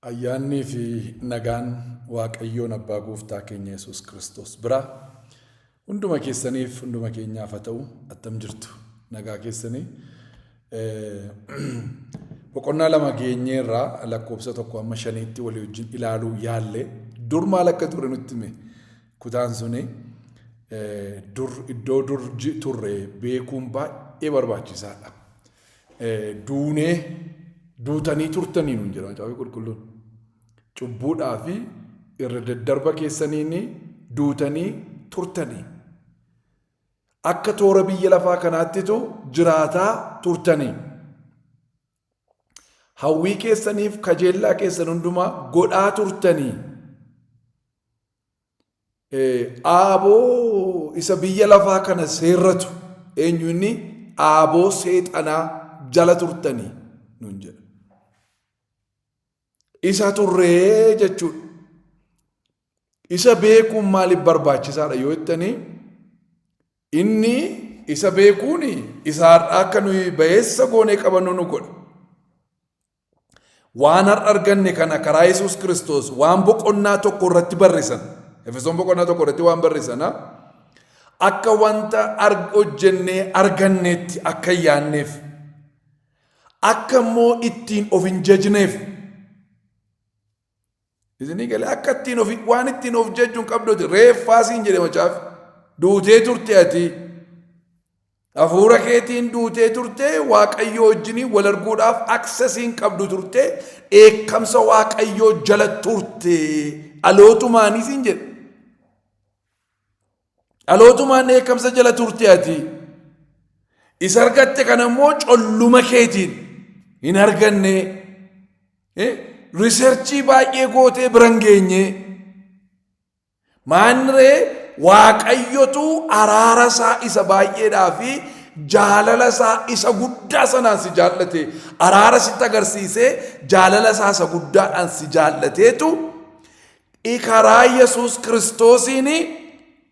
Ayyaannii fi nagaan Waaqayyoon Abbaa Gooftaa keenya Yesuus Kiristoos biraa hunduma keessaniif hunduma keenyaaf haa ta'u attam jirtu nagaa keessanii boqonnaa lama geenyee irraa lakkoofsa tokko amma shaniitti walii wajjin ilaaluu yaalle dur maal akka ture nutti hime kutaan suni dur iddoo dur turre beekuun baay'ee barbaachisaadha. duunee duutanii turtanii nuun jedha Macaafni Qulqulluun. Cubbuudhaa fi irra daddarba keessaniin duutanii turtanii. Akka toora biyya lafaa kanaattitu jiraataa turtanii. Hawwii keessaniif kajeellaa keessan hundumaa godhaa turtanii. Aaboo isa biyya lafaa kana seerratu eenyu inni aaboo seexanaa jala turtanii nun jedha. Isa turree jechuudha. Isa beekuun maaliif barbaachisaadha yoo jettanii inni isa beekuun isa har'aa akka nuyi ba'eessa goonee qabannu nu godha. Waan har'a arganne kana karaa Yesuus Kiristoos waan boqonnaa tokko irratti barreessan. Efesoon boqonnaa tokko irratti waan barreessan akka wanta hojjennee arganneetti akka hin yaanneef akka immoo ittiin of hin jajneef Isinii galee akka ittiin ofi waan ittiin of jajju hin qabdu ati reeffaa siin jedhe macaafi. Duutee turte ati. Hafuura keetiin duutee turte waaqayyoo wajjiniin wal arguudhaaf aksesii hin qabdu turte dheekkamsa waaqayyoo jala turte dhalootumaanii siin jedhe. Dhalootumaan dheekkamsa jala turte ati. Isa argatte kana immoo colluma keetiin hin arganne. Riserchii baay'ee gootee bira hin geenye. Maanree waaqayyotu araara isaa isa baay'eedhaa fi jaalala isaa isa guddaa sanaan si jaallate araara sitti agarsiisee jaalala isaa isa guddaadhaan si jaallateetu I karaa Yesuus Kiristoosiin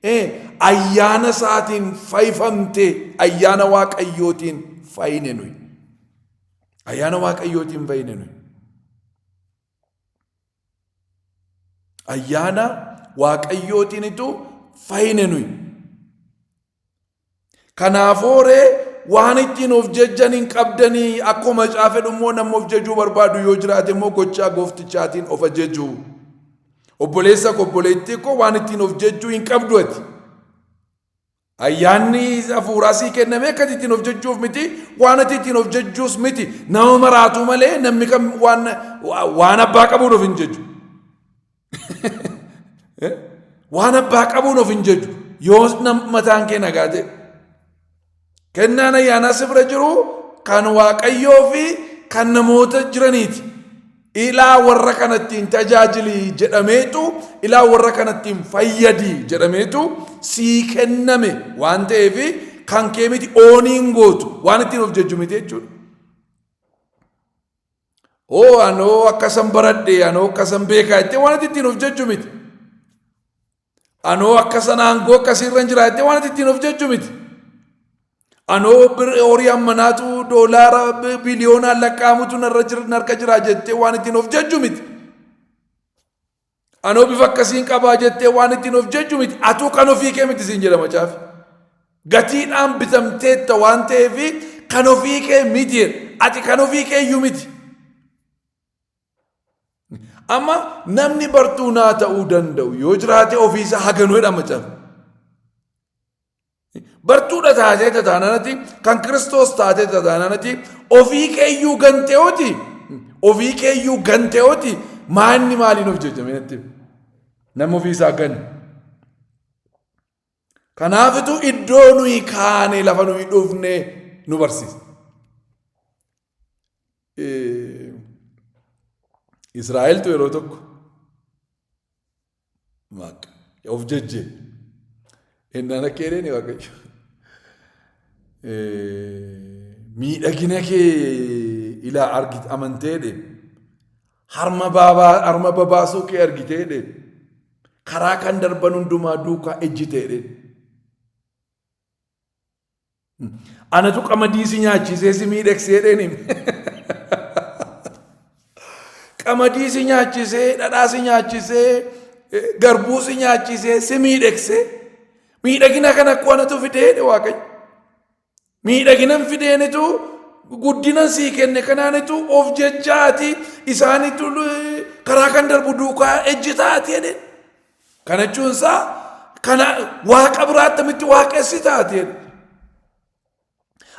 eh, ayyaana isaatiin fayifamte ayyaana waaqayyootiin fayine nuyi. Ayyaana waaqayyootiin fayine nuyi. Ayyaana waaqayyootiinitu fayine nuyi. Kanaafoo ree waan ittiin of jejjan hin qabdanii akkoo macaa fedhu immoo namni of jejuu barbaadu yoo jiraate immoo gochaa gooftichaatiin of ajejuu. Obboleessa koo obboleettii koo waan ittiin of jejjuu hin qabdu ati. Ayyaanni hafuuraa sii kenname akka ittiin of jejjuuf miti waan ati ittiin of jejjuus miti nama maraatuu malee namni kan waan waan abbaa qabuun of hin jejju. Waan abbaa qabuun of hin jejju yoo mataan kee nagaa ta'e. Kennaan ayyaanaa si bira jiru kan waaqayyoo fi kan namoota jiraniiti. Ilaa warra kanattiin tajaajili jedhameetu ilaa warra kanattiin fayyadi jedhameetu sii kenname waan ta'eef kan kee miti ooniin gootu waan ittiin of jejju miti jechuudha. Oo anoo akkasan baradhe anoo akkasan beekaa jettee waan ati ittiin of jajju miti. Anoo akkasan aangoo akkasiirran jira jettee waan ati ittiin of jajju miti. Anoo horii ammanaatu doolaara biliyoonaan lakkaa'amutu narra jira narka jira jettee waan ittiin of jajju miti. Anoo bifa akkasiin qabaa jettee waan ittiin of jejju miti. Atuu kan ofii kee miti siin jedha macaafi. Gatiidhaan bitamteetta waan ta'eef kan ofii kee miti jedha. Ati kan ofii kee iyyuu miti. Amma namni bartuu naa ta'uu danda'u yoo jiraate ofiisaa haganuu jedha macaafi. Bartuudha taatee tataananati kan Kiristoos taatee tataananati ofii keeyyuu ganteewooti ofii keeyyuu ganteewooti maanni maaliin of jajjamee natti nama ofii isaa ganne. Kanaafitu iddoo nuyi kaane lafa nuyi dhufne nu barsiisa. Israa'eltu yeroo tokko Maaq. Of jajjee. Ennaan akka jedheen waaqayyo. Miidhagina kee ilaa argit amantee dhe. Harma baabaa harma babaasuu kee argitee dhe. Karaa kan darban hundumaa duukaa ejjitee dhe. Anatu qamadii si nyaachisee si miidhagse jedheen hime. Qamadii si nyaachisee, dhadhaa si nyaachisee, garbuu si nyaachisee si miidhagse. Miidhagina kana akkoo anatu fidee jedhe Waaqayyo. Miidhaginan fideenitu guddinan sii kenne kanaanitu of jechaati isaanitu karaa kan darbu duukaa ejjitaati jedhe. Kana jechuun isaa kana waaqa biraa attamitti waaqessi taateen.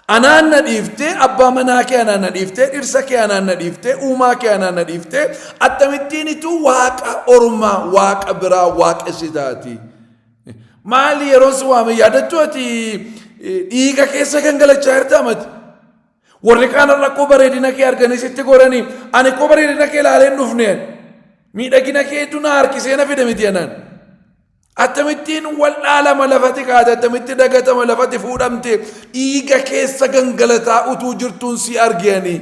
Anaan na dhiiftee abbaa manaa kee anaan na dhiiftee dhirsa kee anaan na dhiiftee uumaa kee anaan na dhiiftee attamittiin ituu waaqa ormaa waaqa biraa waaqessi taati. Maali yeroon si waame yaadattu ati dhiiga keessa gangalachaa jirta amati. Warri kaan rakkoo bareedina kee arganii sitti goranii ani koo bareedina kee ilaalee hin dhufne miidhagina kee hedduu na harkisee na fide miti jenaan. Akkamittiin wal'aalama lafati kaate akkamitti dagatama lafati fuudhamte dhiiga keessa gangalataa utuu jirtuun si argeanii.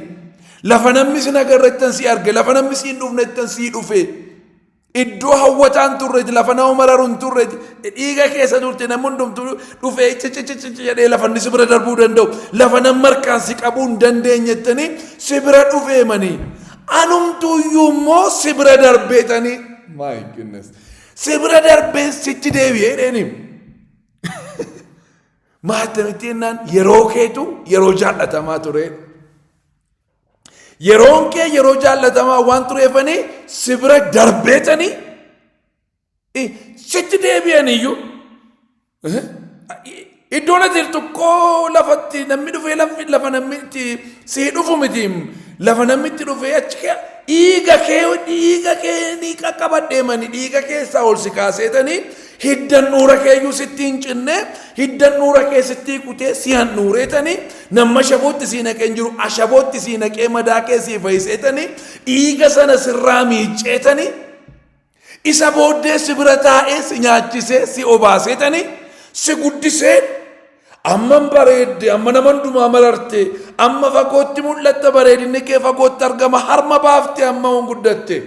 Lafa namni sin agarrettan si arge lafa namni siin dhufnettan si dhufe. Iddoo hawwataan turreeti lafa nama mararu hin turreeti dhiiga keessa turte namni hundumtu dhufee cicicicici jedhee lafa inni si bira darbuu danda'u lafa namni harkaan si qabuu hin dandeenyettanii si bira dhufeemanii anumtuu iyyuu immoo si bira darbeetanii my goodness si bira darbeen sitti deebi'ee dheeni maatamitti jennaan yeroo keetu yeroo jaallatamaa tureedha. Yeroon kee yeroo jaallatamaa waan tureefanii si bira darbeetanii i- sitti deebi'aniyyuu eh, i- iddoon ati jirtu koo lafatti namni dhufee lafi lafa namni itti si dhufu miti lafa namni itti dhufee achi kee dhiiga kee dhiiga kee ni qaqqabadheemani dhiiga keessaa ol si kaaseetanii Hidda handhuura keeyyuu sitti hin cinne, hidda handhuura kee sitti kutee si handhuureetani, namma ashabootti si naqee hin jiru, ashabootti si naqee madaa kee si fayiseetani, dhiiga sana sirraa miicceetani, isa booddee si bira taa'ee si nyaachisee si obaaseetani, si guddisee amman bareedde, amma nama hundumaa mararte, amma fagootti mul'atta bareedinni kee fagootti argama, harma baafte amma hin guddatte.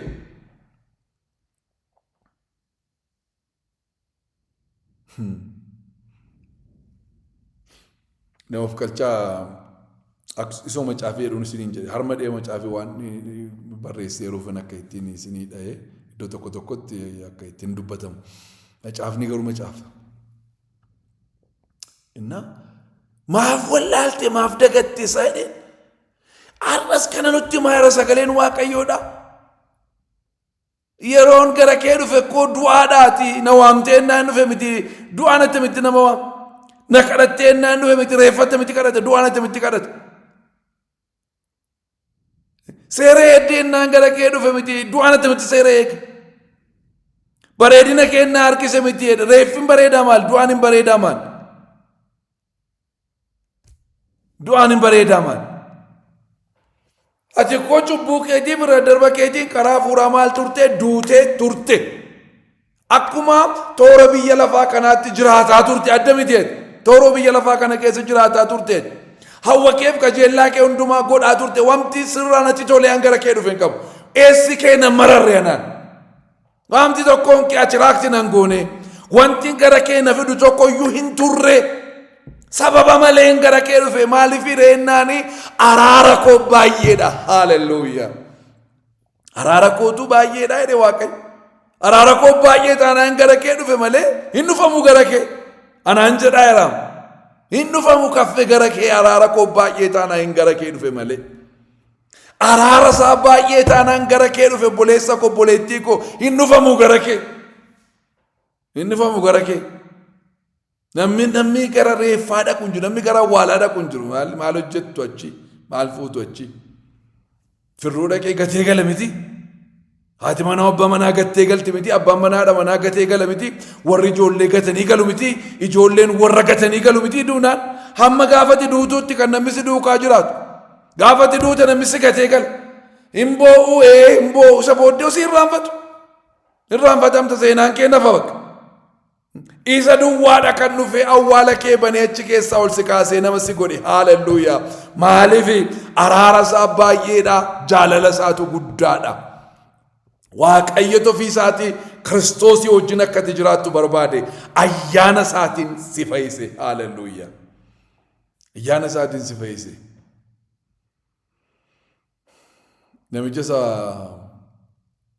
Nama of qalchaa akkas- isoo macaafii jedhuun isiniin jedhe harma dhee macaafii waan barreessee yeroofan akka ittiin isinii dhahee iddoo tokko tokkotti akka ittiin dubbatamu. Macaafni garuu macaafa. Innaa maaf wallaalte maaf dagatte isaa jedhee har'as kana nutti maayira sagaleen waaqayyoodha. Yeroon gara kee dhufe koo du'aadhaati na waamtee innaan dhufe miti du'aan attamitti nama waam na kadhattee innaan dhufe miti reeffa attamitti kadhata du'aan attamitti kadhata. Seera eeddee innaan gara kee dhufe miti du'aan attamitti seera eege. Bareedina kee innaa harkise miti reeffin bareedaa maal du'aan hin bareedaa maal. Du'aan hin bareedaa maal? Ati koo cubbuu keetii bira darba keetiin karaa fuuraa maal turte duutee turte. Akkuma toora biyya lafaa kanaatti jiraataa turte adda miteet. Toora biyya lafaa kana keessa jiraataa turte. Hawwa keef qajeellaa kee hundumaa godhaa turte. Wanti sirraa natti tolee hanga kee dhufe hin qabu. Eessi kee na mararre anaan. Waamti tokkoon kee atiraakti nan goone. Wanti gara kee na fidu tokko iyyuu hin turre. Sababa malee gara kee dhufe maaliif hireennaani araara koo baay'eedha. Haaleluyyaa. Araara kootu baay'eedha jedhe waaqayyo. Araara koo baay'ee taanaan gara kee dhufe malee hin dhufamu gara kee. Anaan jedhaa jiraam. Hin dhufamu kaffe gara kee araara koo baay'ee taanaan gara kee dhufe malee. Araara isaa baay'ee taanaan gara kee dhufe obboleessa koo obboleettii koo hin dhufamu gara kee. Hin dhufamu gara kee. Namni namni gara reeffaa dhaqu hin jiru namni gara awwaalaa dhaqu hin jiru maal maal hojjettu achi maal fuutu achi. Firruu dhaqee gatee gala miti. Haati manaa abbaa manaa gattee galti miti, abbaan manaa haadha manaa gatee gala miti, warri ijoollee gatanii galu miti, ijoolleen warra gatanii galu miti duunaan hamma gaafati duutuutti kan namni si duukaa jiraatu. Gaafati duuta namni si gatee gala. Hin boo'u ee hin boo'u isa booddee osii irraanfatu. Irraanfatamta seenaan kee nafa bakka. Isa duwwaadha kan dhufee awwaala kee banee achi keessaa ol si kaasee nama si godhe haalelluuyaa. Maaliif araara isaa baay'eedha jaalala isaatu guddaadha. Waaqayyo ofii isaatii kiristoosii wajjin akka ati jiraattu barbaade ayyaana isaatiin si fayyise haalelluuyaa. Ayyaana isaatiin si fayyise. Namicha isa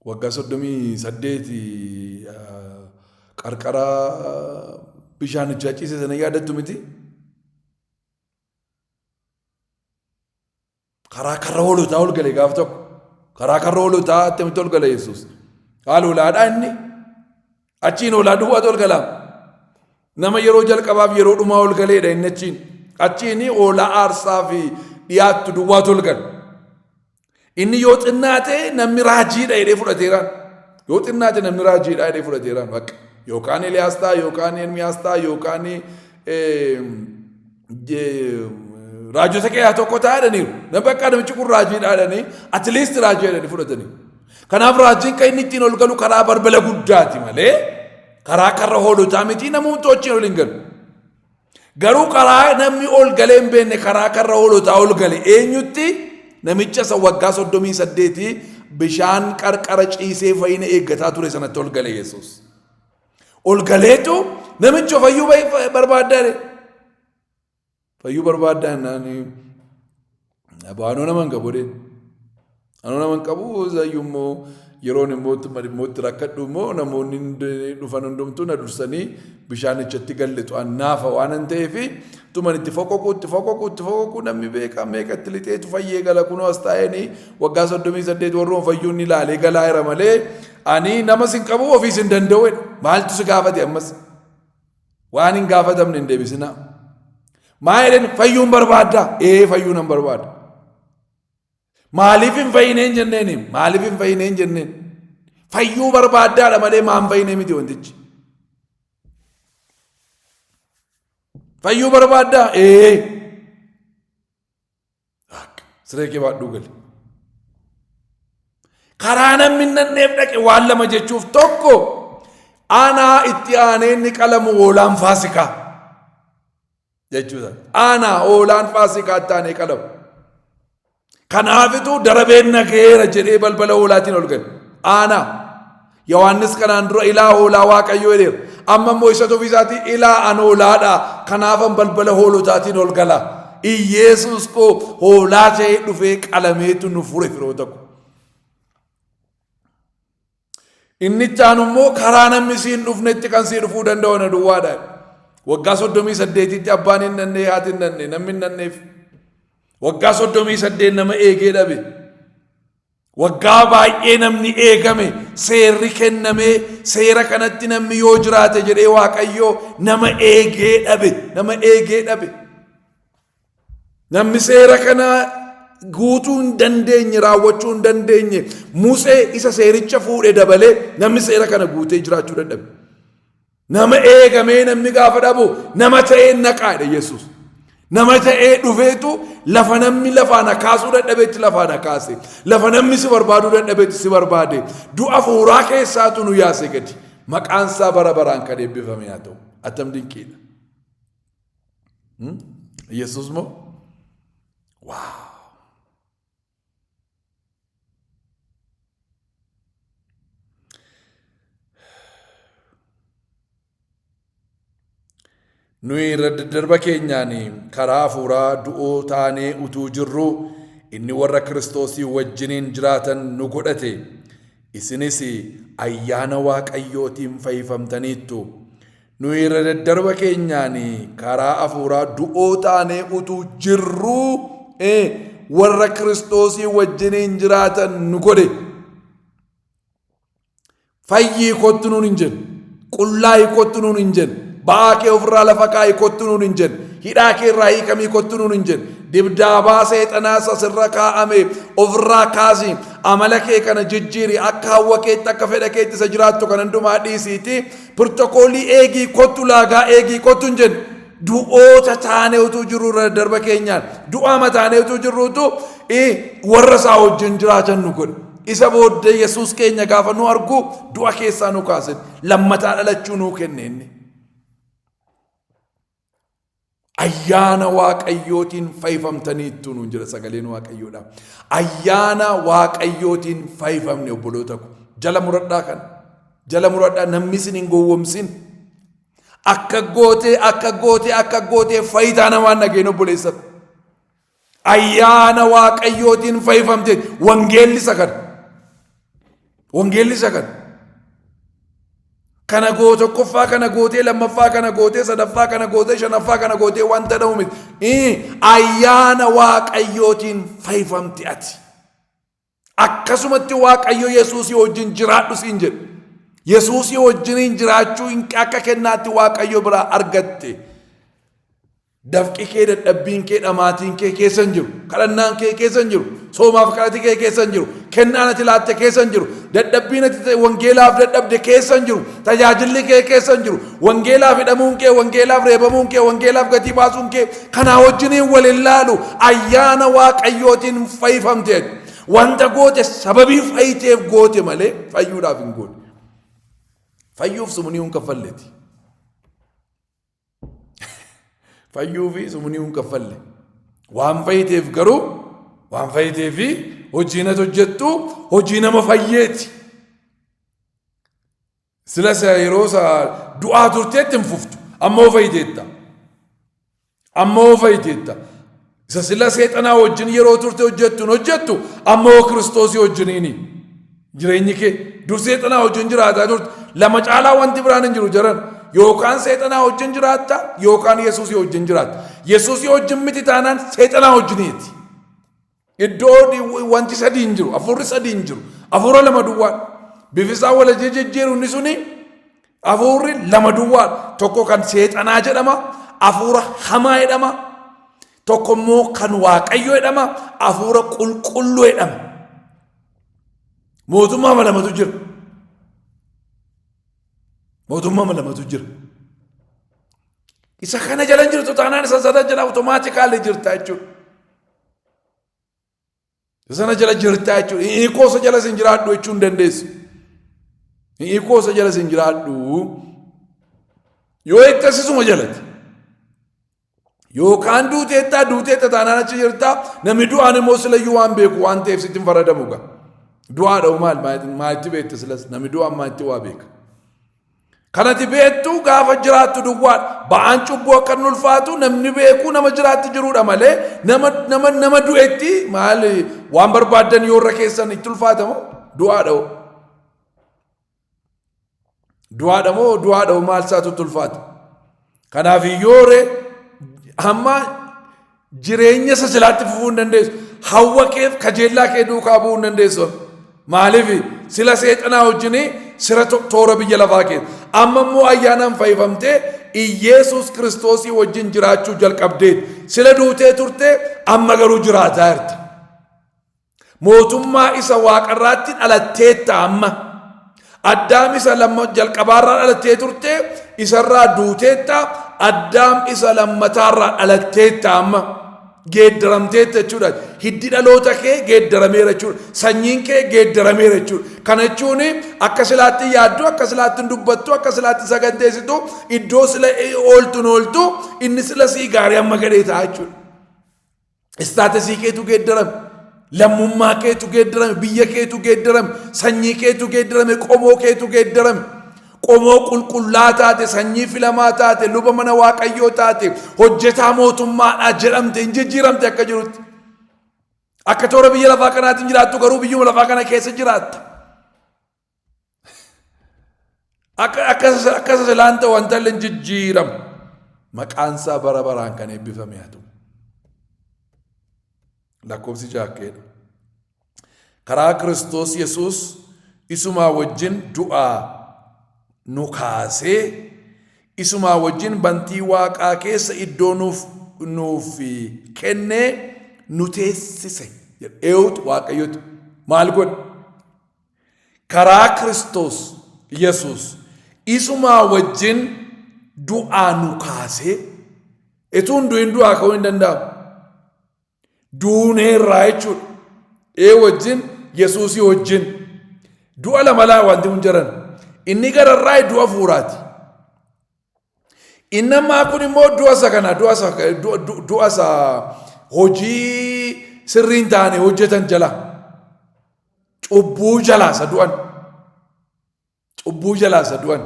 waggaa soddomii saddeeti qarqara bishaanichaa ciise sana yaadattu miti. Karaa karra hoolotaa ol gale gaaf tokko. Karaa karra hoolotaa attamitti ol gale Yesuus. Haal hoolaadhaa inni Achiin hoolaa duwwaatu ol galaam. Nama yeroo jalqabaaf yeroo dhumaa ol galeedha inni achiin. Achiin hoolaa aarsaa fi dhiyaattu duwwaatu ol gala. Inni yoo xinnaate namni raajiidha jedhee fudhateeraan. Yoo xinnaate namni raajiidha jedhee fudhateeraan bakka. Yookaan Eliyaas ta'a, yookaan Ermiyaas ta'a, yookaan raajota keessaa tokko taa'aniiru. Nama bakka namichi kun raajii dhaadhanii atleast raajii jedhanii fudhatanii. Kanaaf raajiin kan inni ittiin ol galu karaa balbala guddaati malee karaa karra hoolotaa miti namoota wajjin ol hin galu. Garuu karaa namni ol galee hin beekne karaa karra hoolotaa ol gale eenyutti namicha isa waggaa soddomii saddeetii bishaan qarqara ciisee fayyina eeggataa ture sanatti ol gale Yesuus. Ol galeetu namicho fayyuu barbaaddaa dee. Fayyuu barbaaddaa naan baanoo nama hin qabu dee. Anoo nama hin qabu zayyuu immoo yeroon immoo immoo itti rakkadhu immoo namoonni dhufan hundumtuu na dursanii bishaanichatti gallitu annaafa waan hin ta'eef tuman itti foqoqu itti foqoqu itti foqoqu namni beekaa meeqa itti lixeetu fayyee gala kunoo as taa'eenii waggaa soddomii saddeet warroon fayyuun ni ilaalee galaa jira malee Ani nama sin qabu ofii sin danda'u jedhe. Maaltu si gaafate ammas? Waan hin gaafatamne hin deebisinaa. Maa jedheen fayyuun barbaadda? Ee fayyuu nan barbaada. Maaliif hin fayyineen jenneen? Maaliif hin fayyineen jenneen? Fayyuu barbaaddaadha malee maa hin fayyinee miti wantichi. Fayyuu barbaaddaa? Ee. Akka. Siree kee baadhuu gali. Karaa namni hin dhaqneef dhaqe waan lama jechuuf tokko aanaa itti aanee inni qalamu hoolaan faasikaa jechuudha. Aanaa hoolaan faasikaa itti aanee qalamu. Kanaafituu darabeen nageera jedhee balbala hoolaatiin ol gale. Aanaa. Yohaannis kanaan dura ilaa hoolaa waaqayyoo jedheera. Amma immoo isatu ofiisaatii ilaa an hoolaadha. Kanaafan balbala hoolotaatiin ol gala. Iyyeesuus koo hoolaa ta'ee dhufee qalameetu nu fure firoota koo. Inni itti aanu immoo karaa namni siin dhufnetti kan sii dhufuu danda'u na duwwaadha. Waggaa soddomii saddeetitti abbaan hin nannee haati hin nannee namni hin nanneef. Waggaa soddomii saddeet nama eegee dhabe. Waggaa baay'ee namni eegame seerri kennamee seera kanatti namni yoo jiraate jedhee waaqayyoo nama eegee dhabe nama eegee dhabe. Namni seera kana guutuu hin dandeenye raawwachuu hin dandeenye Musee isa seericha fuudhe dabalee namni seera kana guutee jiraachuu dadhabe. Nama eegamee namni gaafa dhabu nama ta'ee naqaa jedha Yesuus. Nama ta'ee dhufeetu lafa namni lafaa na kaasuu dadhabetti lafaa na kaase. Lafa namni si barbaaduu dadhabetti si barbaade. Du'a hafuuraa keessaatu nu yaase gadi. Maqaan isaa bara baraan kan eebbifame haa ta'u. Attam dinqiidha. Yesuus moo? Waaw! Nuyi irra daddarba keenyaan karaa hafuuraa du'oo taanee utuu jirruu inni warra Kiristoosii wajjiniin jiraatan nu godhate. Isinis ayyaana Waaqayyootiin fayyifamtaniittu. Nuyi irra daddarba keenyaan karaa afuuraa du'oo taanee utuu jirruu ee, warra Kiristoosii wajjiniin jiraatan nu godhe. Fayyii kottu nuun hin jenne. Qullaa'ii kottu nuun hin jenne. Ba'aa kee ofirraa lafa kaa'ii kottu nuun hin jenne. Hidhaa kee irraa hiikamii kottu nuun hin jenne. Dibdaabaa seexanaa isa sirra kaa'ame ofirraa kaasi. Amala kee kana jijjiiri. Akka hawwa keetti akka fedha keetti isa jiraattu kan hundumaa dhiisiiti. Pirtokoolii eegii kottu laagaa eegii kottu hin jennu. Du'oota taanee utuu jirru irra darba keenyaan du'aa mataanee utuu jirru utuu warra isaa wajjin jiraatan nu godhe. Isa booddee Yesuus keenya gaafa nu argu du'a keessaa nu kaase lammataa dhalachuu nuu kenne inni. Ayyaana Waaqayyootiin fayifamtaniittu nuun jira sagaleen Waaqayyoodha. Ayyaana Waaqayyootiin fayifamne obboloota ko. Jala muradhaa kana. Jala muradhaa namni isin hin gowwomsin. Akka gootee akka gootee akka gootee fayitaa namaan dhageen obboleessatu. Ayyaana Waaqayyootiin fayyifamte wangeelli isa kana. Wangeelli isa kana. Kana goo tokkoffaa kana gootee lammaffaa kana gootee sadaffaa kana gootee shanaffaa kana gootee wanta dha'u miti. Ayyaana Waaqayyootiin fayyifamte ati. Akkasumatti Waaqayyo Yesuusii wajjin jiraadhu siin jedhe. Yesuusii wajjiniin jiraachuu hin akka kennaatti Waaqayyo biraa argatte. Dafqi kee dadhabbiin kee dhamaatiin kee keessa hin jiru. Kadhannaan kee keessa hin jiru. Soomaaf kadhati kee keessa hin jiru. Kennaan ati laatte keessa hin jiru. Dadhabbiin ati ta'e wangeelaaf dadhabde keessa hin jiru. Tajaajilli kee keessa hin jiru. Wangeelaaf hidhamuun kee, wangeelaaf reebamuun kee, wangeelaaf gatii baasuun kee Kanaa wajjiniin wal ilaalu ayyaana waaqayyootiin fayyifamteet wanta goote sababii fayyiteef goote malee fayyuudhaaf hin goote. Fayyuuf sumunii hin kaffalleeti. Fayyuu fi sumunii hin kaffalle. Waan fayyiteef garuu waan fayyitee fi hojiin ati hojjettu hojii nama fayyeeti. Sila isa yeroo isa du'aa turteetti hin fuftu. Amma hoo fayyiteetta. Amma hoo fayyiteetta. Isa sila seexanaa wajjin yeroo turte hojjettu hin hojjettu. Amma hoo kiristoosii wajjiniini. Jireenyi kee dur seexanaa wajjin jiraataa turte. Lama caalaa wanti biraan hin jiru jaran. Yookaan seexanaa wajjin jiraatta yookaan yesuusii wajjin jiraatta. Yesuusii wajjin miti taanaan seexanaa wajjiniiti. Iddoo wanti sadii hin jiru, hafuurri sadii hin jiru. Hafuura lama duwwaadha. Bifisaa wal jijjiiru inni suni hafuurri lama duwwaadha. Tokko kan seexanaa jedhama, hafuura hamaa jedhama. Tokko immoo kan waaqayyo jedhama, hafuura qulqulluu jedhama. Mootummaa ama lamatu jira. Mootummaa ama lamatu jira. Isa kana jala hin jirtu taanaan isa sana jala awutomaatikaalii jirta jechuudha. Sana jala jirtaa jechuudha. Hin hiikoo isa jala sin jiraadhu jechuu hin dandeessu. Hin hiikoo isa jala sin jiraadhu yoo itti asisuma jalati. Yookaan duuteettaa duuteetta taanaan achi jirtaa namni du'aan immoo silayyuu waan beeku waan ta'eef sitti hin faradamu gaa. Du'aadha maal maa itti beekte silas namni du'aan maa itti waa beeka. Kan ati beektu gaafa jiraattu duwwaadha. Ba'aan cubbuu akka inni ulfaatu namni beekuu nama jiraatti jirudha malee nama nama nama du'etti maal waan barbaaddan yoo irra keessan itti ulfaatamu du'aadha. hoo. Du'aadha moo du'aadha moo maal isaatu itti ulfaata? Kanaaf yoo re hamma jireenya isa silaatti fufuu hin dandeessu. Hawwa keef kajeellaa kee duukaa bu'uu hin dandeessu. Maaliif sila seexanaa wajjin sira to- toora biyya lafaa kee. Amma immoo ayyaanaan fayyifamtee Iyeesuus Kiristoosii wajjin jiraachuu jalqabdee sila duutee turte amma garuu jiraataa jirta. Mootummaa isa waaqarraatti dhalatteetta amma. Addaam isa lamma jalqabaarraa dhalattee turte isarraa duuteetta addaam isa lammataarraa dhalatteetta amma. Geeddaramteetta jechuudha. Hiddi dhaloota kee geeddarameera jechuudha. Sanyiin kee geeddarameera jechuudha. Kana jechuun akka silaatti yaaddu, akka silaatti hin dubbattu, akka silaatti saganteessitu, iddoo sila ooltu hin ooltu, inni sila sii gaarii amma gadhee ta'a jechuudha. Istaatisii keetu geeddarame. Lammummaa keetu geeddarame. Biyya keetu geeddarame. Sanyii keetu geeddarame. Qomoo keetu geeddarame. Qomoo qulqullaa taate, sanyii filamaa taate, luba mana waaqayyoo taate, hojjetaa mootummaadhaa jedhamte hin jijjiiramte akka jirutti. Akka toora biyya lafaa kanaatiin jiraattu garuu biyyuma lafaa kana keessa jiraatta. Akka akka akka silaan ta'u wantalli hin jijjiiramu. Maqaan isaa bara baraan kan eebbifame haa ta'u. Lakkoofsi jaakkeedha. Karaa Kiristoos Yesuus isumaa wajjin du'aa nu kaasee isumaa wajjin bantii waaqaa keessa iddoo nuuf nuuf kennee nu teessise. Eewutu waaqayyotu maal godhe? Karaa Kiristoos Yesuus isumaa wajjin du'aa nu kaasee etuu hin du'in du'aa ka'uu hin danda'amu. Duunee irraa jechuudha. Ee wajjin Yesuusii wajjin du'a lama laa wanti kun jiran inni gararraa du'a fuuraati. Inni ammaa kun immoo du'a isa kana du'a isa du'a- du'a- du'a isa hojii sirrii hin taane hojjetan jala cubbuu jalaa isa du'an cubbuu jalaa isa du'an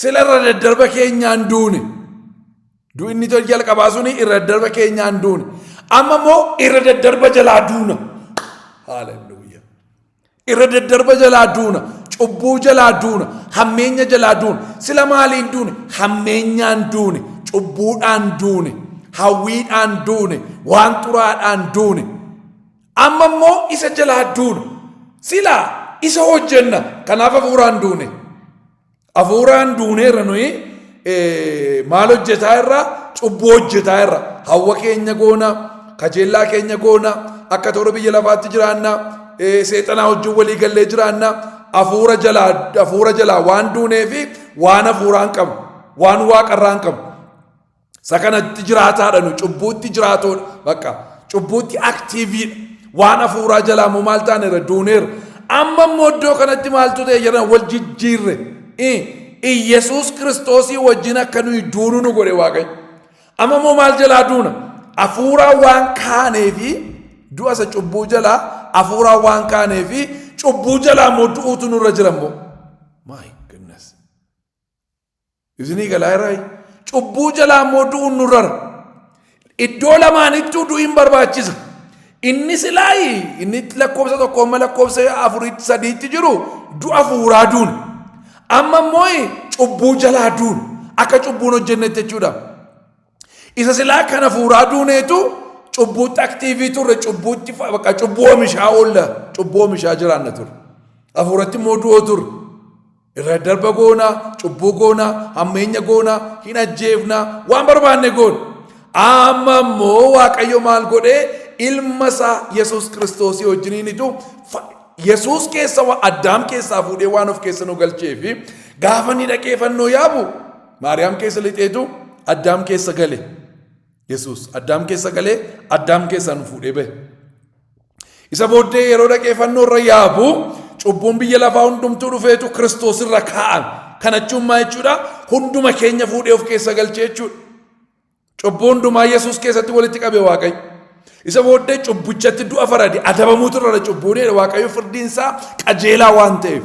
sila irra daddarba keenyaan duune du'i inni tol jalqabaa suni irra daddarba keenyaan duune amma immoo irra daddarba jalaa duuna haaleluyyaa Irra daddarba jalaa duuna, cubbuu jalaa duuna, hammeenya jalaa duuna. Sila maaliin duune? Hammeenyaan duune, cubbuudhaan duune, hawwiidhaan duune, waan xuraadhaan duune. Amma immoo isa jalaa duuna. Sila isa hojjenna, kanaaf hafuuraan duune. Hafuuraan duuneerra nuyi eh, maal hojjetaa irra cubbuu hojjetaa irra hawwa keenya goona kajeellaa keenya goona akka toora biyya lafaatti jiraanna eh, seexanaa wajjin walii gallee jiraanna hafuura jalaa hafuura jalaa waan duunee fi waan hafuuraan qabu waan waaqarraan qabu Isa kanatti jiraataadha nu cubbuutti jiraatoodha bakka cubbuutti aktiiviidha waan hafuuraa jalaa immoo maal taaneera duuneera amma immoo iddoo kanatti maaltu ta'e jedhan wal jijjiirre Iyyasuus kiristoosii wajjin akka nuyi duunu nu godhe waaqayyo amma immoo maal jalaa duuna hafuuraa waan kaanee fi du'a isa cubbuu jalaa hafuuraa waan kaanee fi cubbuu jalaa immoo du'uutu nurra jira immoo. My goodness. Isinii galaa irraa cubbuu jalaa immoo du'uun nurrara. Iddoo lamaanittuu du'iin barbaachisa. Inni silaayi inni lakkoofsa tokko amma lakkoofsa afuriitti sadiitti jiru du'a fuuraa duun. Amma immoo cubbuu jalaa duun akka cubbuun hojjennetti jechuudha. Isa silaa kana fuuraa duuneetu cubbuutti aktiivii turre cubbuutti fa- bakka cubbuu oomishaa oolla cubbuu oomishaa jiraanna turre. Hafuuratti immoo du'oo turre. Irra darba goona, cubbuu goona, hammeenya goona, hin ajjeefna, waan barbaanne goona. Amma immoo Waaqayyo maal godhee ilma isaa Yesuus Kiristoosii wajjiniinitu Yesuus keessa waa addaam keessaa fuudhee waan of keessa nu galchee fi gaafa inni dhaqee fannoo yaabu Maariyaam keessa lixeetu addaam keessa gale. Yesuus addaam keessa galee addaam keessaa nu fuudhee bahe. Isa booddee yeroo dhaqee fannoo irra yaabu cubbuun biyya lafaa hundumtuu dhufeetu Kiristoos irra kaa'an. Kana jechuun maa jechuudha? Hunduma keenya fuudhee of keessa galchee jechuudha. Cubbuu hundumaa Yesuus keessatti walitti qabe Waaqayyo. Isa booddee cubbichatti du'a farade adabamuutu irra cubbuun Waaqayyo firdiin isaa qajeelaa waan ta'eef.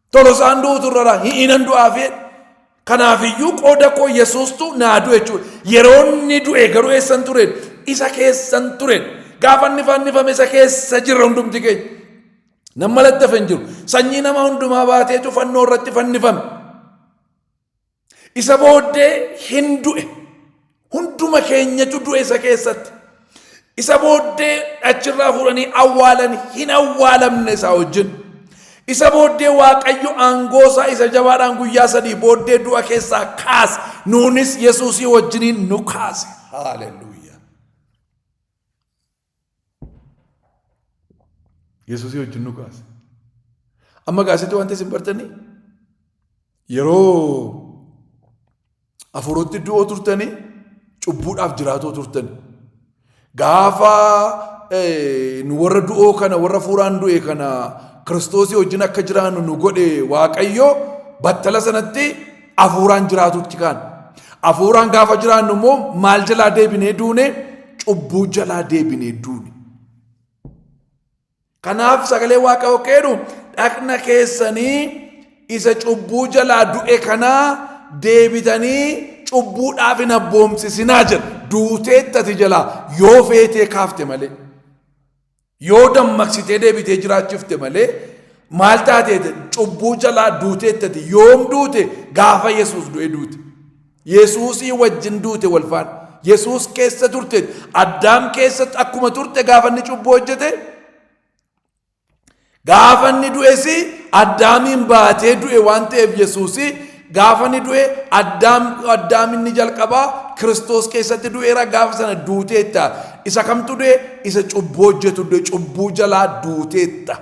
Tolosaan du'utu irra jira. Hi'inan du'aaf jedhe. Kanaafiyyuu qooda koo Yesuustu naa du'e jechuudha. Yeroo inni du'e garuu eessan ture? Isa keessan ture. Gaafa inni fannifame isa keessa jirra hundumti keenya. Nama lattafe hin jiru. Sanyii nama hundumaa baateetu fannoo irratti fannifame. Isa booddee hin du'e. Hunduma keenyatu du'e isa keessatti. Isa booddee achirraa fuudhanii awwaalan hin awwaalamne isaa wajjin. Isa booddee Waaqayyo aangoosaa isa jabaadhaan guyyaa sadii booddee du'a keessaa kaase. Nuunis Yesuusii wajjiniin nu kaase. Haaleluu. Yesuusii wajjin nu kaase. Amma gaasitti wanti isin bartanii yeroo afuuratti du'oo turtanii cubbuudhaaf jiraatoo turtani. Gaafa nu warra du'oo kana warra afuuraan du'e kana kiristoosii wajjin akka jiraannu nu godhe waaqayyo battala sanatti Afuuraan jiraatutti kaan. Afuuraan gaafa jiraannu immoo maal jalaa deebinee duune cubbuu jalaa deebinee duune. Kanaaf sagalee waaqayyoo keenu dhaqna keessanii isa cubbuu jalaa du'e kanaa deebitanii cubbuudhaaf hin abboomsisinaa jedha. Duuteettati jalaa yoo feetee kaafte malee. Yoo dammaqsitee deebitee jiraachifte malee maal taateete cubbuu jalaa duuteettati yoom duute gaafa Yesuus du'e duute. Yesuusii wajjin duute wal faana. Yesuus keessa turte addaam keessa akkuma turte gaafa inni cubbuu hojjete gaafa inni du'es addaamiin baatee du'e waan ta'eef Yesuusii Gaafa inni du'e addaam addaam inni jalqabaa kiristoos keessatti du'eera gaafa sana duuteetta. Isa kamtu du'e isa cubbuu hojjetu du'e cubbuu jalaa duuteetta.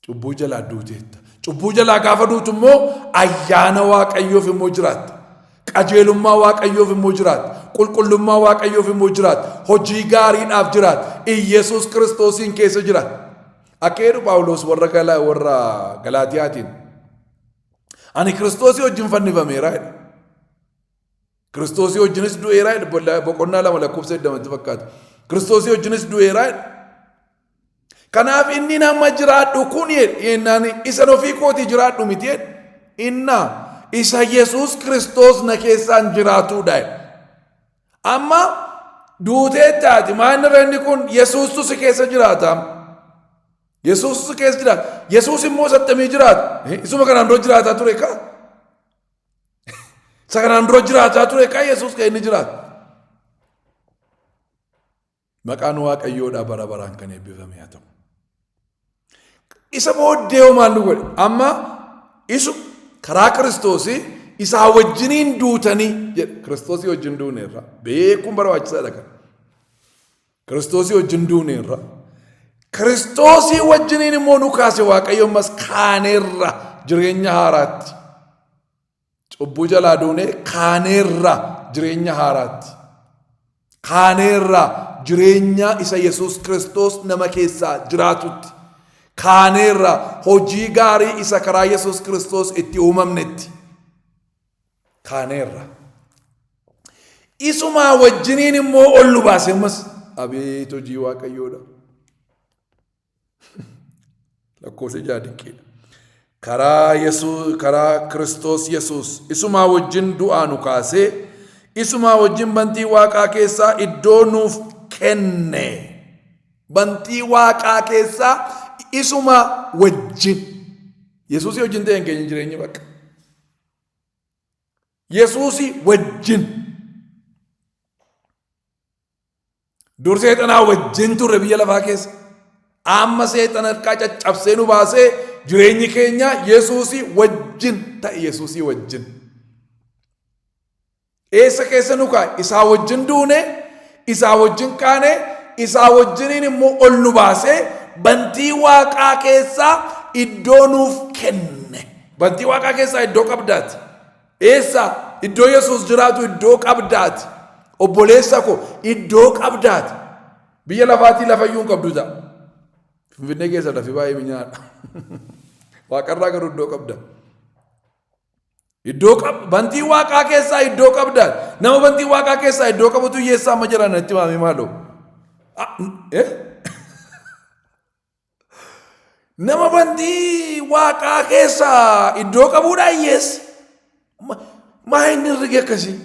Cubbuu jalaa duuteetta. Cubbuu jalaa gaafa duutu immoo ayyaana waaqayyoof immoo jiraatta. Qajeelummaa waaqayyoof immoo jiraatta. Qulqullummaa waaqayyoof immoo jiraatta. Hojii gaariidhaaf jiraatta. Iyyasuus kiristoosiin keessa jiraatta. Akka jedhu Phaawulos warra gala- warra Galaatiyaatiin ani Kiristoosii wajjin fannifameera jedha. Kiristoosii wajjinis du'eera jedha. Bolla- Boqonnaa lama lakkoofsa 20 fakkaata. Kiristoosii wajjinis du'eera jedha. Kanaaf inni nama jiraadhu kun jedhe yennaan isan ofii kooti jiraadhu miti jedhe. Inna isa Yesuus Kiristoos na keessaan jiraatudha jedhe. Amma duuteettaati maanni reenni kun Yesuustu si keessa jiraata. Yesuustu si keessa jiraata. Yesuus immoo sattamii jiraata. Isuma kanaan dura jiraataa ture kaa. Isa kanaan dura jiraataa ture kaa Yesuus kan inni jiraata. Maqaan Waaqayyoodhaa bara baraan kan eebbifame haa ta'u. Isa booddee hoo maal nu godhe? Amma isu karaa Kiristoosii isaa wajjiniin duutanii jedha. Kiristoosii wajjin duuneerra. Beekuun barbaachisaadha kan. Kiristoosii wajjin duuneerra. Kiristoosii wajjiniin immoo nu kaase Waaqayyo ammas kaaneerra jireenya haaraatti. Cubbuu jalaa duunee kaaneerra jireenya haaraatti. Kaaneerra jireenya isa Yesuus Kiristoos nama keessaa jiraatutti. Kaaneerra hojii gaarii isa karaa Yesuus Kiristoos itti uumamnetti. Kaaneerra. Isumaa wajjiniin immoo ol nu baase ammas. Abeet hojii Waaqayyoodha. lakkoofsa ja'a diqqee karaa yesuus karaa kiristoos yesuus isumaa wajjin du'aa nu kaasee isumaa wajjin bantii waaqaa keessaa iddoo nuuf kenne bantii waaqaa keessaa isumaa wajjin yesuusii wajjin ta'een keenya jireenyi bakka yesuusii wajjin Dur seexanaa wajjin turre biyya lafaa keessa. Amma seexana harkaa caccabsee nu baasee jireenyi keenya Yesuusii wajjin ta'e Yesuusii wajjin. Eessa keessa nu kaa'e? Isaa wajjin duune, isaa wajjin kaane, isaa wajjiniin immoo ol nu baasee bantii waaqaa keessaa iddoo nuuf kenne. Bantii waaqaa keessaa iddoo qabdaati. Eessa? Iddoo Yesuus jiraatu iddoo qabdaati. Obboleessa koo iddoo qabdaati. Biyya lafaatii lafayyuu hin qabdu ta'a. Finfinnee keessa lafi baay'ee minyaadha. Waaqarraa garuu iddoo qabda. Iddoo qab bantii waaqaa keessaa iddoo qabda. Nama bantii waaqaa keessaa iddoo qabutu hiyyeessaa amma jiran natti maamee maaloo. Ah, eh? Nama bantii waaqaa keessa iddoo qabuudha hiyyeessi. Ma- Maa inni herregi akkasii?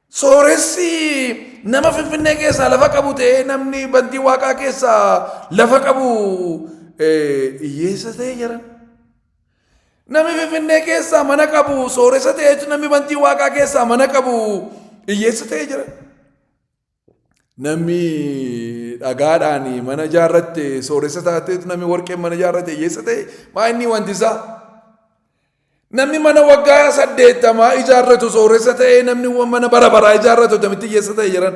Sooressi nama Finfinnee keessaa lafa qabu ta'ee namni bantii waaqaa keessaa lafa qabu eh, hiyyeessa ta'ee jira. Nami Finfinnee keessaa mana qabu sooressa ta'ee jira. Nami bantii waaqaa keessaa mana qabu hiyyeessa ta'ee jira. Nami dhagaadhaan mana ijaarratte sooressa taatee nami warqeen mana ijaarratte hiyyeessa ta'e maa inni wanti isaa. Namni mana waggaa saddeettamaa ijaarratu sooressa ta'ee namni mana bara baraa ijaarratu tamitti hiyyeessa ta'e jiran.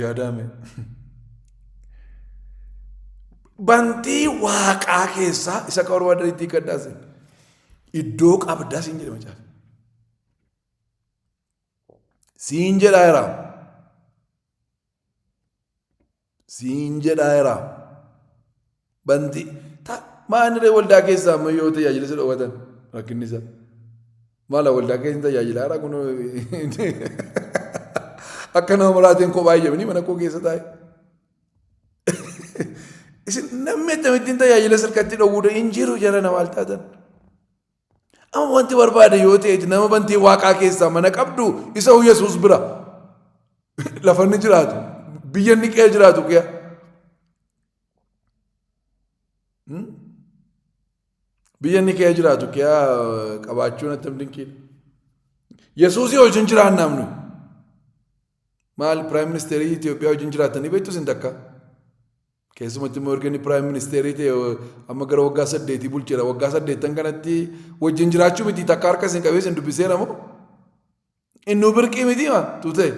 Yaadaame. Bantii waaqaa keessaa isa akka barbaadan itti hiikkadhaas iddoo qabdaa siin jedhe macaafa. Siin jedhaa jiraa. siin jedhaa iraa bantii ta maaniree waldaa keessaa amma yoo tajaajila si dhowwatan rakkinni isaa maala waldaa keessa tajaajila hara kun akka nama maraatiin kophaa jedhanii mana koo keessa taa'e. Isin namni akkamittiin tajaajila sirkatti dhowwuudha hin jiru jara namaa taatan. Amma wanti barbaade yoo ta'eeti nama bantii waaqaa keessaa mana qabdu isa Yesuus bira lafa inni jiraatu biyya inni qe'ee jiraatu qe'a. Biyya inni qe'ee jiraatu qe'a qabaachuun attam dinqiidha. Yesuusii wajjin jiraannaam nuyi. Maal piraayim ministeerii Itoophiyaa wajjin jiraatanii beektu isin takka. Keessumatti immoo erga inni piraayim ministeerii ta'e amma gara waggaa saddeetii bulcheera. Waggaa saddeettan kanatti wajjin jiraachuu miti takka harka isin qabee isin dubbiseera moo? Innuu birqii miti ma tuutee.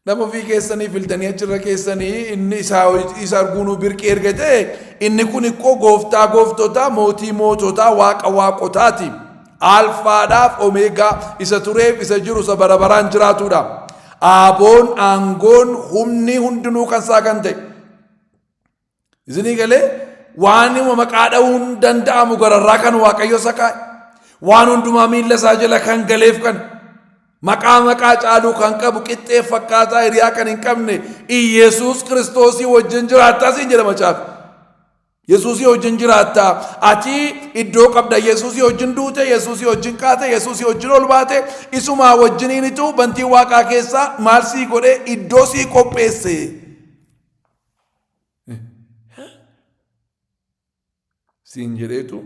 Nama ofii keessanii filtanii achirra keessanii inni isaa isa arguunuu birqii erga ta'e inni kun ikkoo gooftaa gooftotaa mootii moototaa waaqa waaqotaati. Alfaadhaaf Omeegaa, isa tureef, isa jiru, isa bara baraan jiraatuudha. Aaboon, aangoon, humni hundinuu kan isaa kan ta'e. Isinii galee waanuma maqaa dha'uun danda'amu gararraa kan waaqayyo isa kaa'e. Waan hundumaa miilla isaa jala kan galeef kan maqaa maqaa caaluu kan qabu qixxee fakkaataa hiriyaa kan hin qabne Iyesuus Kiristoosii wajjin jiraattaa siin jedha macaafi. Yesuusii wajjin jiraatta. Ati iddoo qabda. Yesuusii wajjin duute, Yesuusii wajjin kaate, Yesuusii wajjin ol baate, isumaa wajjiniinitu bantii waaqaa keessaa maal sii godhee iddoo sii qopheesse. Siin jedheetu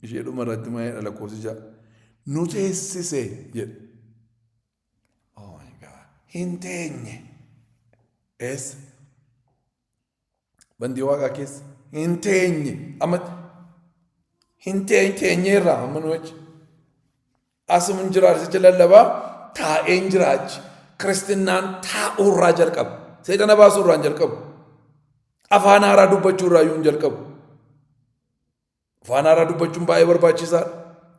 ishee dhuma irratti maayee dhala koosija nu teessise jedhe. Oh my God. Hin teenye. Eessa? Bandii waaqaa keessa hin teenye amma hin teenye teenyeerraa amma nu achi. Asuma hin jiraatu jecha lallabaa taa'ee hin jiraachi. Kiristinnaan taa'uurraa jalqaba. Seexana baasuurraa hin jalqabu. Afaan haaraa dubbachuurraa iyyuu hin jalqabu. Afaan haaraa dubbachuun baay'ee barbaachisaadha.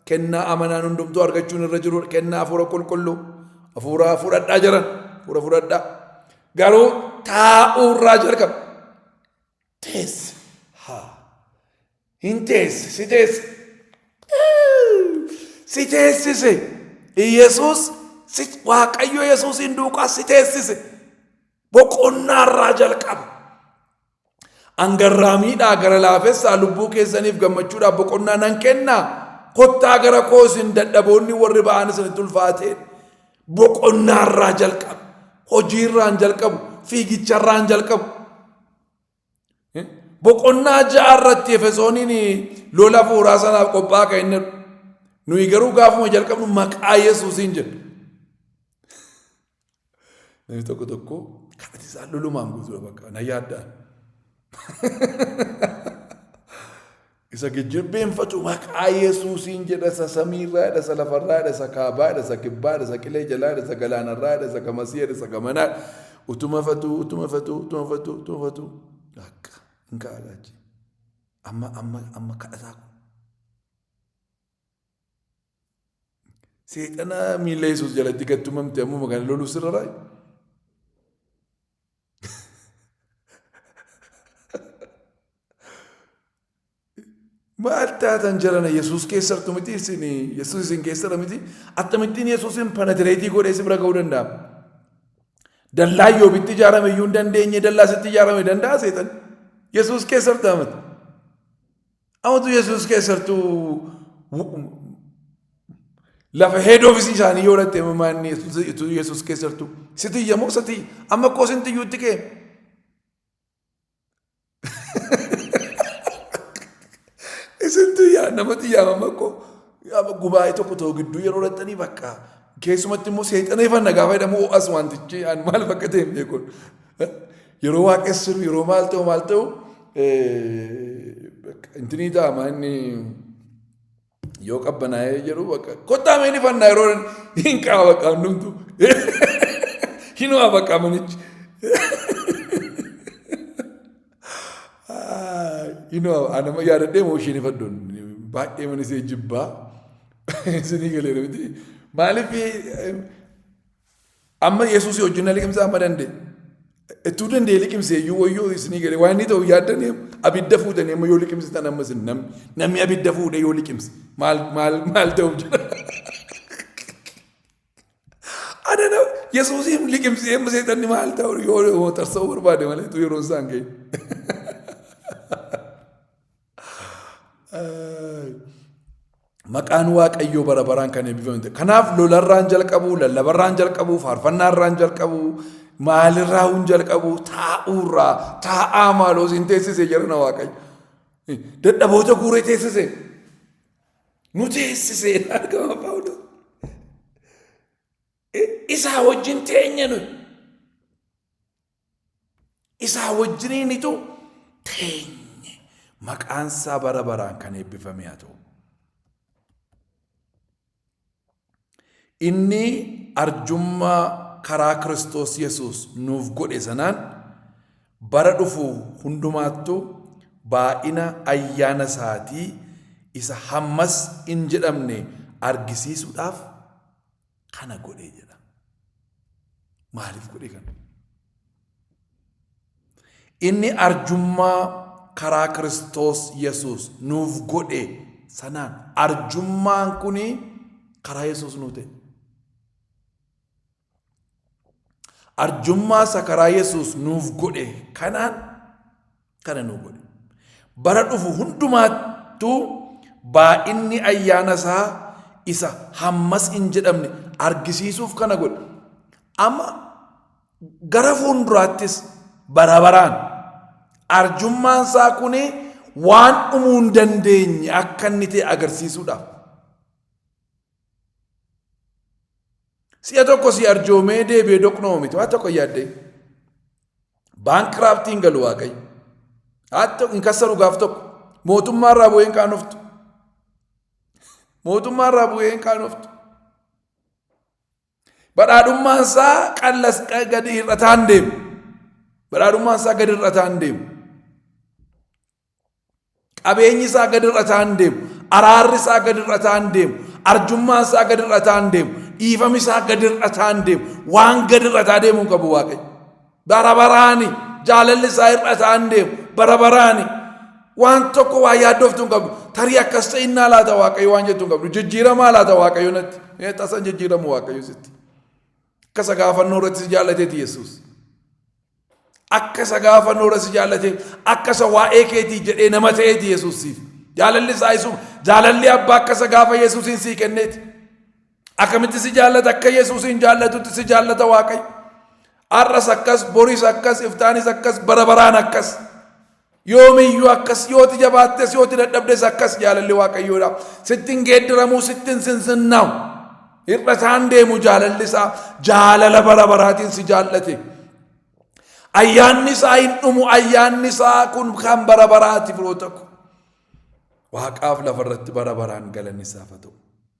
Kennaa amanaan hundumtuu argachuun irra jiru kennaa hafuura qulqulluu hafuuraa fudhadhaa jiran hafuura fudhadhaa. Garuu taa'uu irraa jalqaba. Teessi haa hin teessi si teessi si teessise Yesuus si Waaqayyo Yesuusiin duukaa si teessise boqonnaa irraa jalqaba. An garraamiidhaa gara laafessaa lubbuu keessaniif gammachuudhaaf boqonnaa nan kenna. Kottaa gara koo isin dadhaboonni warri ba'aan isinitti ulfaatee boqonnaarraa jalqabu, hojiirraan jalqabu, fiigicharraan jalqabu. Boqonnaa ja'a irratti Efesooniin lola hafuuraa sanaaf qophaa'aa kan inni nuyi garuu gaafuma jalqabnu maqaa Yesuusiin jedhu. Namni tokko tokko kadhati isaa lolumaan guutuudha bakka na yaaddaan. Isa gijjibbeeffatu maqaa Yesuusiin jedha isa samiirraa jedha isa lafarraa jedha isa kaabaa jedha isa kibbaa jedha isa qilee jalaa jedha isa galaanarraa jedha isa gamasii jedha isa gamanaa utuma fatuu utuma fatuu utuma fatuu utuma fatuu akka hin kaa'alaachi amma amma amma kadhataa kun Seexana miila Yesuus jalatti gad tumamte ammuma kana loluu sirra raay. Maal taatan jarana Yesuus keessartu miti isin Yesuus isin keessara miti akkamittiin Yesuusin panatireetii godhee si bira ga'uu danda'a. Dallaa yoobitti ijaarame iyyuu hin dandeenye dallaa sitti ijaarame danda'a seexan Yesuus keessartaa miti. Amatu Yesuus keessattuu lafa head office isaanii yoo latte maanni Yesuus keessattuu sitii yemmuu sitii amma koo sinti iyyuutti kee. Isintu yaa namatti yaamama koo gubaa'ee tokko ta'u gidduu yeroo lattanii bakka keessumatti immoo seexaneeffanna gaafa jedhamu as wantichi maal fakkateen beekun. Yeroo waaqessuuf yeroo maal ta'u maal ta'u intinii ta'ama inni yoo qabbanaa'ee jedhu bakka kottaa mee ni fannaa yeroo hin qaba bakka hundumtu hin waa bakka manichi. Inoo anama yaadadhee moo isheen ifaddoon baay'ee mana isee jibbaa isinii galee miti maaliif Amma Yesuusii wajjin na liqimsaa amma danda'e. Ittuu danda'e liqimsee iyyuu wayyoo isinii galee waan inni ta'u yaaddan abidda fuutanii amma yoo liqimsitan amma isin namni namni abidda fuudhee yoo liqimse maal maal maal ta'u jira. Ana na Yesuusiin liqimsee amma seexanni maal ta'u yoo tarsa'uu barbaade malee utuu yeroon isaan ga'e. Maqaan Waaqayyoo bara baraan kan eebbifame ta'e. Kanaaf lolarraan jalqabu, lallabarraan jalqabu, faarfannaarraan jalqabu, maalirraa hin jalqabu, taa'uurraa, taa'aa maaloo siin teessise jedhana Waaqayyo. Dadhaboota guuree teessise. Nu teessise argama Phaawulos. Isaa wajjin teenya nuyi. isaa wajjiniinitu teenye maqaan isaa bara baraan kan eebbifame haa ta'u. Inni arjummaa karaa Kiristoos Yesuus nuuf godhe sanaan bara dhufu hundumaattu baay'ina ayyaana isaatii isa hammas hin jedhamne argisiisuudhaaf kana godhe jedha. Maaliif godhe kana? Inni arjummaa karaa Kiristoos Yesuus nuuf godhe sanaan arjummaan kun karaa Yesuus nuu ta'e. Arjummaa isa karaa Yesuus nuuf godhe kanaan kana nu godhe. Bara dhufu hundumaattuu baay'inni ayyaana isaa isa hammas hin jedhamne argisiisuuf kana godhe. Amma gara fuulduraattis bara baraan arjummaan isaa kun waan dhumuu hin dandeenye akka inni ta'e agarsiisuudhaaf. Si'a tokko si arjoomee deebi'ee doqnoo miti waan tokko yaaddee. Baankiraaftiin galu waaqayyo. Haa ta'u hin kassaru gaaf tokko. Mootummaa irraa bu'ee hin qaanoftu. Mootummaa irraa bu'ee hin qaanoftu. Badhaadhummaan isaa qallas gadi hir'ataan deemu. Badhaadhummaan isaa gadi hir'ataan deemu. Qabeenyi isaa gad hir'ataa hin deemu. Araarri isaa gad hir'ataa hin deemu. Arjummaan isaa gad hir'ataa hin deemu. Dhiifami isaa gad hir'ataa hin deemu. Waan gad hir'ataa deemuu hin qabu Waaqayyo. Bara baraani jaalalli isaa hir'ataa hin deemu. Bara baraani waan tokko waa yaaddoftu hin qabdu. Tarii akkas ta'innaa laata Waaqayyo waan jettu hin qabdu. Jijjiiramaa laata Waaqayyo natti. Ee tasan jijjiiramu Waaqayyo sitti. Akka isa gaafannoo irratti si jaallateti Yesuus. Akka isa gaafa noora si jaallatee, akka isa waa'ee keetii jedhee nama ta'eeti Yesuus siif. Jaalalli isaa isuma. Jaalalli abbaa akka isa gaafa Yesuusiin sii kenneeti. Akkamitti si jaallata akka Yesuusiin jaallatutti si jaallata Waaqayyo. Har'as akkas, boris akkas, iftaanis akkas, bara baraan akkas. Yoomiyyuu akkas yoo ti jabaattes yoo ti dadhabdes akkas jaalalli waaqayyoodha. Sitti hin geeddaramuu sitti hin sinsinnaa'u. Hir'a isaan deemu jaalalli isaa jaalala bara baraatiin si jaallate. Ayyaanni isaa hin dhumu ayyaanni isaa kun kan bara baraati firoota ko. Waaqaaf lafa irratti bara baraan galanni isaaf haa ta'u.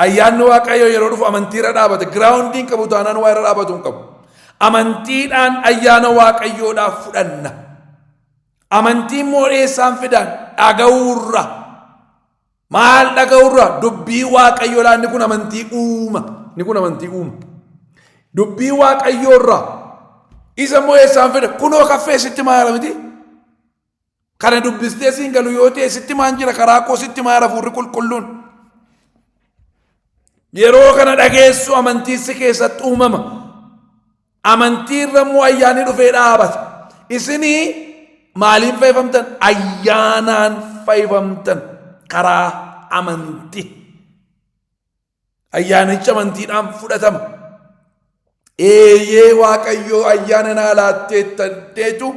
Ayyaanni Waaqayyoo yeroo dhufu amantii irra dhaabata. Giraawundiin qabu taanaan waa irra dhaabatu hin qabu. Amantiidhaan ayyaana Waaqayyoodhaaf fudhanna. Amantiin immoo eessaan fidaan dhaga'uurra. Maal dhaga'uurra? Dubbii Waaqayyoo laanni kun amantii uuma. Inni kun amantii uuma. Dubbii Waaqayyoorra. Isa immoo eessaan fida? Kunoo kaffee sitti maala miti? Kana dubbistee siin galu yoo ta'e sitti maan jira karaa koo sitti maa hafuurri qulqulluun. Yeroo kana dhageessu amantiissi keessatti uumama. Amantii irra immoo ayyaanni dhufee dhaabata. Isinii maaliin fayyifamtan? Ayyaanaan fayyifamtan karaa amantii. Ayyaanichi amantiidhaan fudhatama. Eeyyee Waaqayyoo ayyaana naa laatteetta jechu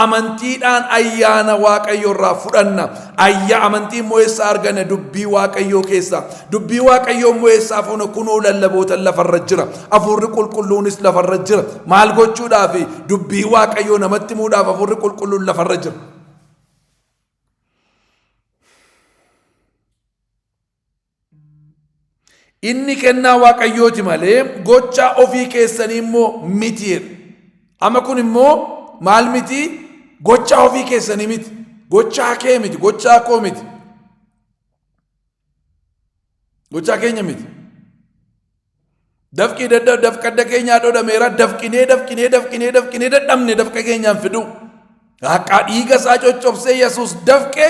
amantiidhaan ayyaana Waaqayyoo irraa fudhanna. Ayya amantii immoo eessa arganna dubbii Waaqayyoo keessa. Dubbii Waaqayyoo immoo eessaa fuuna kunoo lallabootan lafarra jira. Afuurri qulqulluunis lafarra jira. Maal gochuudhaaf dubbii Waaqayyoo namatti muudhaaf afuurri qulqulluun lafarra jira. Inni kennaa Waaqayyooti malee gochaa ofii keessanii immoo miti jedha. Amma kun immoo maal miti gochaa ofii keessanii miti gochaa kee miti gochaa koo miti gochaa keenya miti. Dafqii dadda dafqa adda keenyaa dhodhameera dafqinee dafqinee dafqinee dafqinee dadhabne dafqa keenyaan fiduu. Haqaa dhiiga isaa coccobsee Yesuus dafqee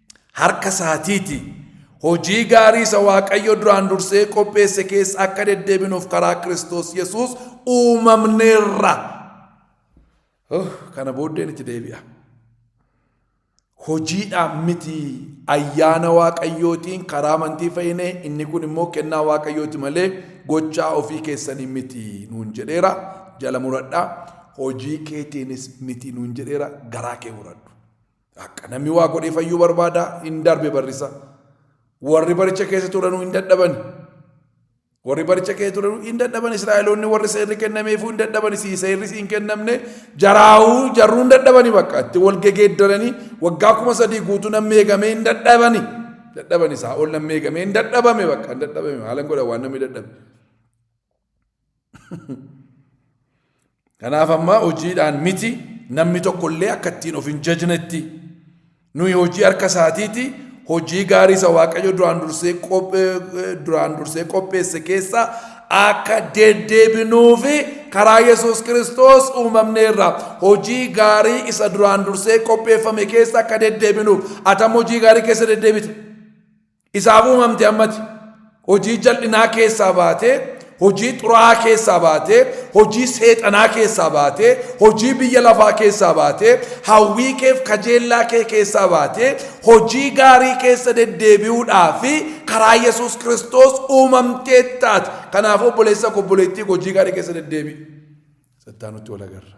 harka isaatiiti. Hojii gaarii isa Waaqayyo duraan dursee qopheesse keessa akka deddeebinuuf karaa Kiristoos Yesuus uumamneerra. Oh, kana booddeen itti deebi'a. Hojiidhaan miti ayyaana Waaqayyootiin karaa amantii fayyine inni kun immoo kennaa Waaqayyooti malee gochaa ofii keessanii miti nuun jedheera jala muradhaa hojii keetiinis miti nuun jedheera garaa kee muradhu. Akka namni waa godhee fayyuu barbaada, hin darbe barrisa. Warri baricha keessa turanuu hin dadhabani. Warri baricha keessa turanuu hin dadhabani. Israa'eloonni warri seerri kennameefuu hin dadhabani. Si seerri si hin kennamne jaraahuu jarruu hin dadhabani bakka. Itti wal gegeeddaranii waggaa kuma sadii guutuu namni eegamee hin dadhabani. Dadhabani isaa ol namni eegamee hin dadhabame bakka hin dadhabame haalan godha waan namni dadhabe. Kanaaf ammaa hojiidhaan miti namni tokkollee akka ittiin of hin jajnetti nuyi hojii harka isaatiiti hojii gaarii isa waaqayyo duraan dursee duraan dursee qopheesse keessaa akka deddeebinuufi karaa Yesuus Kiristoos uumamneerra hojii gaarii isa duraan dursee qopheeffame keessa akka deddeebinuuf atam hojii gaarii keessa deddeebita. Isaaf uumamte ammati. Hojii jal'inaa keessaa baatee, hojii xuraa'aa keessaa baatee, hojii seexanaa keessaa baatee, hojii biyya lafaa keessaa baatee, hawwii keef kajeellaa kee keessaa baatee, hojii gaarii keessa deddeebi'uudhaa fi karaa Yesuus Kiristoos uumamtee taate. Kanaaf obboleessa koo obboleettii koo hojii gaarii keessa deddeebi'i. Sattaanutti wal agarra.